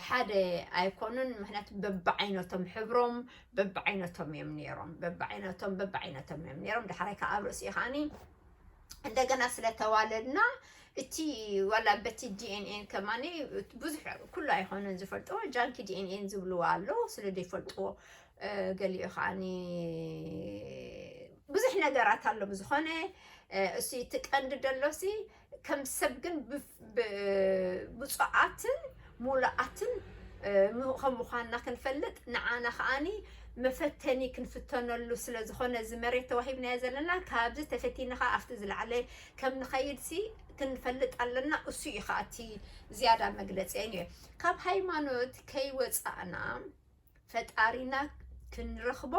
Speaker 1: ሓደ ኣይኮኑን ምክንያቱ በብዓይነቶም ሕብሮም በብዓይነቶም እዮም ነይሮም በብዓይነቶም በብዓይነቶም እዮም ነይሮም ዳሕራይ ከዓ ኣብ ርእሲኡ ከዓኒ እንደገና ስለተዋለድና እቲ ዋላ በቲ ዲኤንኤን ከማኒ ብዙሕ ኩሉ ኣይኮነን ዝፈልጥዎ ጃንኪ ዲኤንኤን ዝብልዎ ኣለዉ ስለ ዘይፈልጥዎ ገሊኡ ከዓኒ ብዙሕ ነገራት ኣሎ ብዝኾነ እሱ እቲ ቀንዲ ደሎሲ ከም ሰብ ግን ብፁዓትን ሙሉኣትን ከም ምዃንና ክንፈልጥ ንዓና ከዓኒ መፈተኒ ክንፍተነሉ ስለ ዝኾነ እዚ መሬት ተዋሂብናዮ ዘለና ካብዚ ተፈቲኒ ከዓ ኣብቲ ዝለዓለ ከም ንኸይድ ሲ ክንፈልጥ ኣለና እሱ እዩ ከዓ እቲ ዝያዳ መግለፂ እዩ ካብ ሃይማኖት ከይወፃእና ፈጣሪና ክንረኽቦ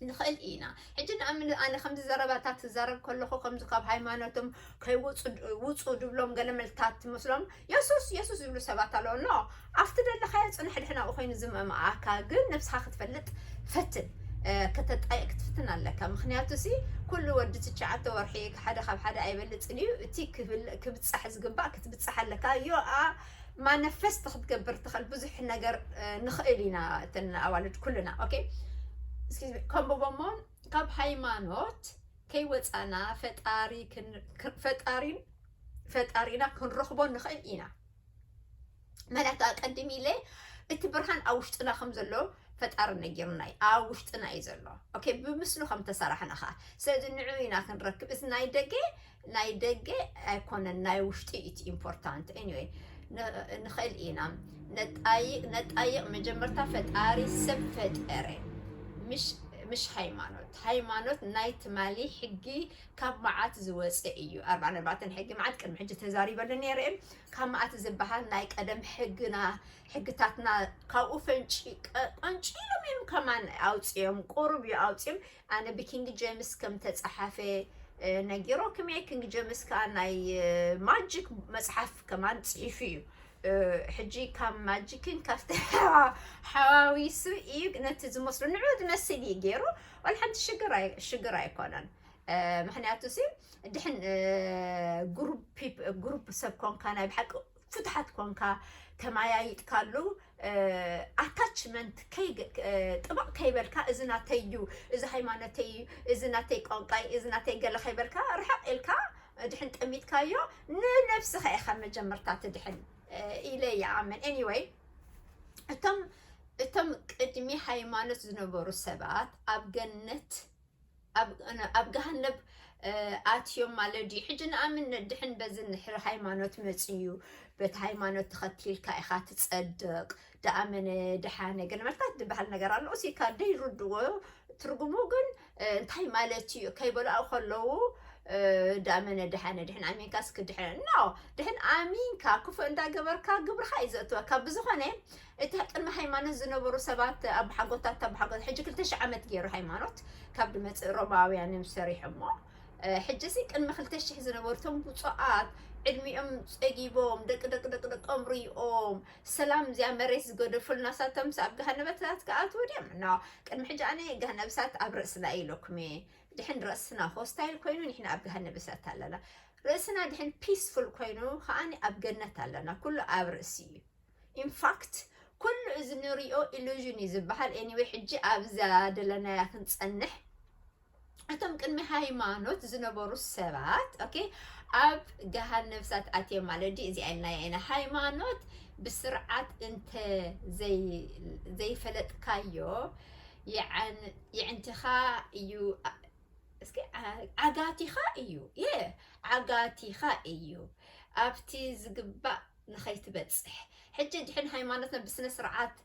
Speaker 1: ንኽእል ኢና ሕጂ ንኣምን ኣነ ከምዚ ዘረባታ ትዛረብ ከለኹ ከምዚ ካብ ሃይማኖቶም ከይውፁ ድብሎም ገለ መልታት ትመስሎም የሱስ የሱስ ዝብሉ ሰባት ኣለዎ ኖ ኣብቲ ደለኻዮ ፅንሕ ድሕን ኣብኡ ኮይኑ ዝመምኣካ ግን ነብስኻ ክትፈልጥ ፈትን ከተጣየቅ ክትፍትን ኣለካ ምክንያቱ ሲ ኩሉ ወዲ ትሽዓተ ወርሒ ሓደ ካብ ሓደ ኣይበልፅን እዩ እቲ ክብፃሕ ዝግባእ ክትብፃሕ ኣለካ ዮኣ ማነፈስት ክትገብር ትኽእል ብዙሕ ነገር ንኽእል ኢና እተን ኣዋልድ ኩልና ኦኬ ከምቦቦሞ ካብ ሃይማኖት ከይወፃና ፈጣሪ ፈጣሪን ፈጣሪና ክንረኽቦ ንኽእል ኢና መላእክቲ ኣቀድም ኢለ እቲ ብርሃን ኣብ ውሽጥና ከም ዘሎ ፈጣሪ ነጊርና እዩ ኣብ ውሽጥና እዩ ዘሎ ኦኬ ብምስሉ ከም ተሰራሕና ኸዓ ስለዚ ንዑ ኢና ክንረክብ እዚ ናይ ደገ ናይ ደገ ኣይኮነን ናይ ውሽጢ ኢት ኢምፖርታንት ኤኒዌይ ንኽእል ኢና ነጣይቅ ነጣይቅ መጀመርታ ፈጣሪ ሰብ ፈጠረ ምሽ ምሽ ሃይማኖት ሃይማኖት ናይ ትማሊ ሕጊ ካብ መዓት ዝወፀ እዩ ኣርባ ነባተን ሕጊ መዓት ቅድሚ ሕጂ ተዛሪበሉ ነይረ እየ ካብ መዓት ዝበሃል ናይ ቀደም ሕግና ሕግታትና ካብኡ ፈንጪ ቀንጪሎም እዮም ከማን ኣውፅኦም ቁሩብ እዩ ኣውፅኦም ኣነ ብኪንግ ጀምስ ከም ተጻሓፈ ነጊሮክምየ ኪንግ ጀምስ ከኣ ናይ ማጂክ መጽሓፍ ከማን ጽሒፉ እዩ ሕጂ ካብ ማጂክን ካብቲ ሓዋዊሱ እዩ ነቲ ዝመስሉ ንዑ ዝመስል እዩ ገይሩ ዋላ ሓንቲ ሽግር ኣይኮነን ምክንያቱ ሲ ድሕን ግሩፕ ሰብ ኮንካ ናይ ብሓቂ ፍትሓት ኮንካ ተመያይጥካሉ ኣታችመንት ጥብቕ ከይበልካ እዚ ናተይ እዩ እዚ ሃይማኖተይ እዩ እዚ ናተይ ቋንቋይ እዚ ናተይ ገለ ከይበልካ ርሕቕ ኢልካ ድሕን ጠሚትካዮ ንነብስኻ ኢኻ መጀመርታ ትድሕን ኢለ ይኣምን ኤኒወይ እቶም እቶም ቅድሚ ሃይማኖት ዝነበሩ ሰባት ኣብ ገነት ኣብ ጋሃነብ ኣትዮም ማለት ድዩ ሕጂ ንኣምን ነድሕን በዚ ንሕሪ ሃይማኖት መጽዩ በቲ ሃይማኖት ተኸቲልካ ኢኻ ትጸድቕ ደኣመነ ደሓነ ግን መርታት ዝበሃል ነገር ኣሎ እሲ ካብ ደይርድዎ ትርጉሙ ግን እንታይ ማለት እዩ ከይበልኦ ከለዉ ዳመነ ድሓነ ድሕን ኣሚንካ እስኪ ድሕን ኖ ድሕን ኣሚንካ ክፉእ እንዳገበርካ ግብርካ እዩ ዘእትወካ ብዝኾነ እታ ቅድሚ ሃይማኖት ዝነበሩ ሰባት ኣባሓጎታት ኣባሓጎታት ሕጂ ክልተ ሽሕ ዓመት ገይሩ ሃይማኖት ካብ ድመጽእ ሮማውያን እዮም ሰሪሖሞ ሕጂ እዚ ቅድሚ ክልተ ሽሕ ዝነበሩ እቶም ብፁዓት ዕድሚኦም ጸጊቦም ደቂ ደቂ ደቂ ደቆም ርኦም ሰላም እዚኣ መሬት ዝገደፉልና ሳቶምስ ኣብ ገሃነበታት ክኣትዉ ድዮም እና ቅድሚ ሕጂ ኣነ ገሃነብሳት ኣብ ርእስና ኢለኩም እየ ድሕን ርእስና ሆስታይል ኮይኑ ንሕና ኣብ ገሃነብሳት ኣለና ርእስና ድሕን ፒስፉል ኮይኑ ከዓኒ ኣብ ገነት ኣለና ኩሉ ኣብ ርእሲ እዩ ኢንፋክት ኩሉ እዚ ንሪኦ ኢሉዥን እዩ ዝበሃል ኤኒወይ ሕጂ ኣብዛ ደለናያ ክንፀንሕ እቶም ቅድሚ ሃይማኖት ዝነበሩ ሰባት ኦኬ ኣብ ገሃን ነብሳት ኣትዮም ማለት ድዩ እዚኣ ኢልናያ ኢና ሃይማኖት ብስርዓት እንተ ዘይፈለጥካዮ የዕንትኻ እዩ እስኪ ዓጋቲኻ እዩ የ ዓጋቲኻ እዩ ኣብቲ ዝግባእ ንኸይትበጽሕ ሕጂ ድሕን ሃይማኖትና ብስነ ስርዓት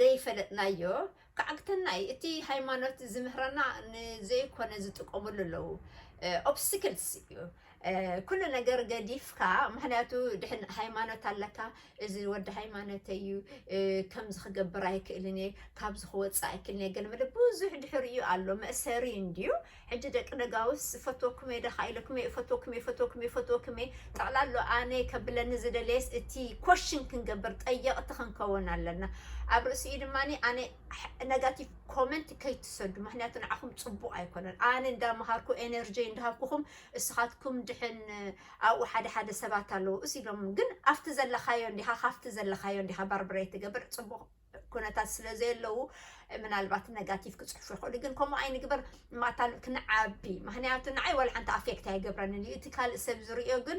Speaker 1: ደይፈለጥናዮ ክዓግተና እዩ እቲ ሃይማኖት ዝምህረና ንዘይኮነ ዝጥቀምሉ ኣለዉ ኦብስቲክልስ እዩ ኩሉ ነገር ገዲፍካ ምክንያቱ ድሕን ሃይማኖት ኣለካ እዚ ወዲ ሃይማኖት እዩ ከምዚ ክገብር ኣይክእልን እየ ካብዚ ክወፅእ ኣይክእልን እየ ገለ መለ ብዙሕ ድሕሪኡ ኣሎ መእሰሪ እንድዩ ሕጂ ደቂ ነጋውስ እፈትወኩምየ ደኻ ኢለኩምየ እፈትወኩምየ እፈትወኩምየ እፈትወኩምየ ጠቕላሎ ኣነ ከብለኒ ዝደለየስ እቲ ኮሽን ክንገብር ጠየቕቲ ክንከውን ኣለና ኣብ ርእሲኡ ድማ ኣነ ነጋቲቭ ኮመንት ከይትሰዱ ምክንያቱ ንዓኹም ፅቡቕ ኣይኮነን ኣነ እንዳመሃርኩ ኤነርጂ እንዳሃብኩኹም እስኻትኩም ድሕን ኣብኡ ሓደ ሓደ ሰባት ኣለዉ እስ ኢሎም ግን ኣብቲ ዘለኻዮ እንዲኻ ካብቲ ዘለኻዮ እንዲኻ ባርብረይ ትገብር ፅቡቕ ኩነታት ስለ ዘየለዉ ምናልባት ነጋቲቭ ክፅሕፉ ይኽእሉ ግን ከምኡ ኣይንግበር ማታን ክንዓቢ ምክንያቱ ንዓይ ዋላ ሓንቲ ኣፌክት ኣይገብረንን እዩ እቲ ካልእ ሰብ ዝርእዮ ግን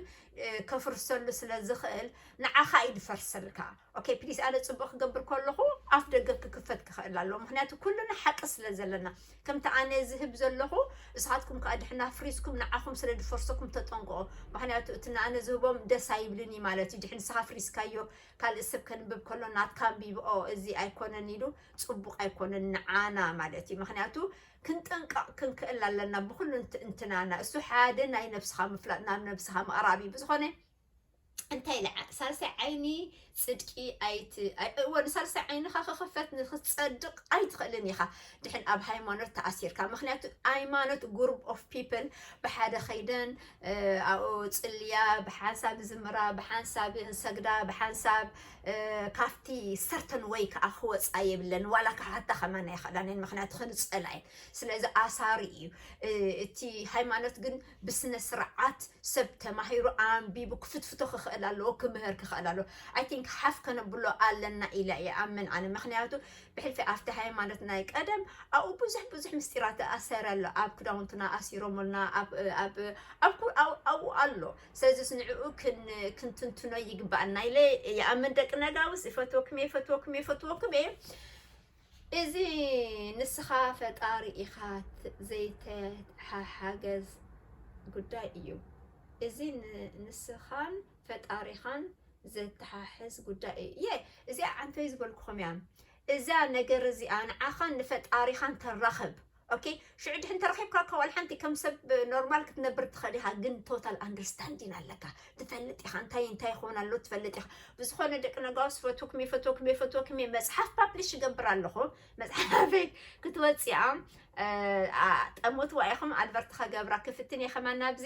Speaker 1: ከፍርሰሉ ስለ ዝኽእል ንዓኻ እዩ ዝፈርሰልካ ኦኬ ፕሊስ ኣነ ፅቡቅ ክገብር ከለኹ ኣፍ ደገ ክክፈት ክኽእል ኣለዎ ምክንያቱ ኩሉና ሓቂ ስለ ዘለና ከምቲ ኣነ ዝህብ ዘለኹ እሳትኩም ከዓ ድሕና ፍሪስኩም ንዓኹም ስለ ዝፈርሰኩም ተጠንቅቆ ምክንያቱ እቲ ንኣነ ዝህቦም ደስ ኣይብልን እዩ ማለት እዩ ድሕን ንስኻ ፍሪስካዮ ካልእ ስብ ከንብብ ከሎ ናትካ ኣንቢብኦ እዚ ኣይኮነን ኢሉ ጽቡቅ ኣይኮነን ንዓና ማለት እዩ ምክንያቱ ክንጥንቀቅ ክንክእል ኣለና ብኩሉ እንትናና እሱ ሓደ ናይ ነብስካ ምፍላጥ ናብ ነብስካ ምቅራብ እዩ ብዝኮነ እንታይ ኢለ ሳልሳይ ዓይኒ ጽድቂ ኣይቲ እወ ንሳልሳይ ዓይንኻ ክኽፈት ንክትጸድቕ ኣይትኽእልን ኢኻ ድሕን ኣብ ሃይማኖት ተኣሲርካ ምክንያቱ ሃይማኖት ጉሩፕ ኦፍ ፒፕል ብሓደ ከይደን ኣብኡ ጽልያ ብሓንሳብ ይዝምራ፣ ብሓንሳብ ይሰግዳ፣ ብሓንሳብ ካብቲ ሰርተን ወይ ከዓ ክወፃ የብለን ዋላ ክሓታ ከማን ኣይኽእላን እየን ምክንያቱ ክንፀላ እየን ስለዚ ኣሳሪ እዩ እቲ ሃይማኖት ግን ብስነ ስርዓት ሰብ ተማሂሩ ኣንቢቡ ክፍትፍቶ ክኽእል ኣለዎ ክምህር ክኽእል ኣለዎ ኣይ ቲንክ ሓፍ ከነብሎ ኣለና ኢለ እየ ኣምን ኣነ ምክንያቱ ብሕልፊ ኣርተሓየ ማለት ናይ ቀደም ኣብኡ ብዙሕ ብዙሕ ምስጢራት ኣሰረ ኣሎ ኣብ ክዳውንትና ኣሲሮምልና ኣብኡ ኣሎ ስለዚ ስንዕኡ ክንትንትኖ ይግባኣና ኢለ ይኣምን ደቂ ነጋውስ ይፈትወኩም እየ ይፈትወኩም እየ ይፈትወኩም እየ እዚ ንስኻ ፈጣሪ ኢኻ ዘይተሓሓገዝ ጉዳይ እዩ እዚ ንስኻን ፈጣሪኻን ዘተሓሕዝ ጉዳይ እዩ እየ እዚኣ ዓንተይ ዝበልኩኹም እያ እዛ ነገር እዚኣ ንዓኻን ንፈጣሪኻን ተራኽብ ኦኬ ሽዑ ድሕን ተረኺብካ እኳ ዋላ ሓንቲ ከም ሰብ ኖርማል ክትነብር ትኽእል ኢኻ ግን ቶታል ኣንደርስታንዲን ኣለካ ትፈልጥ ኢኻ እንታይ እንታይ ይኸውን ኣሎ ትፈልጥ ኢኻ ብዝኾነ ደቂ ነጋውስ ፈትኩም እየ ፈትወኩም እየ ፈትወኩም እየ መፅሓፍ ፓብሊሽ ይገብር ኣለኹ መፅሓፈይ ክትወፅኣ ጠሞትዋ ኢኹም ኣድቨርቲ ከገብራ ክፍትን እየ ከማን ናብዚ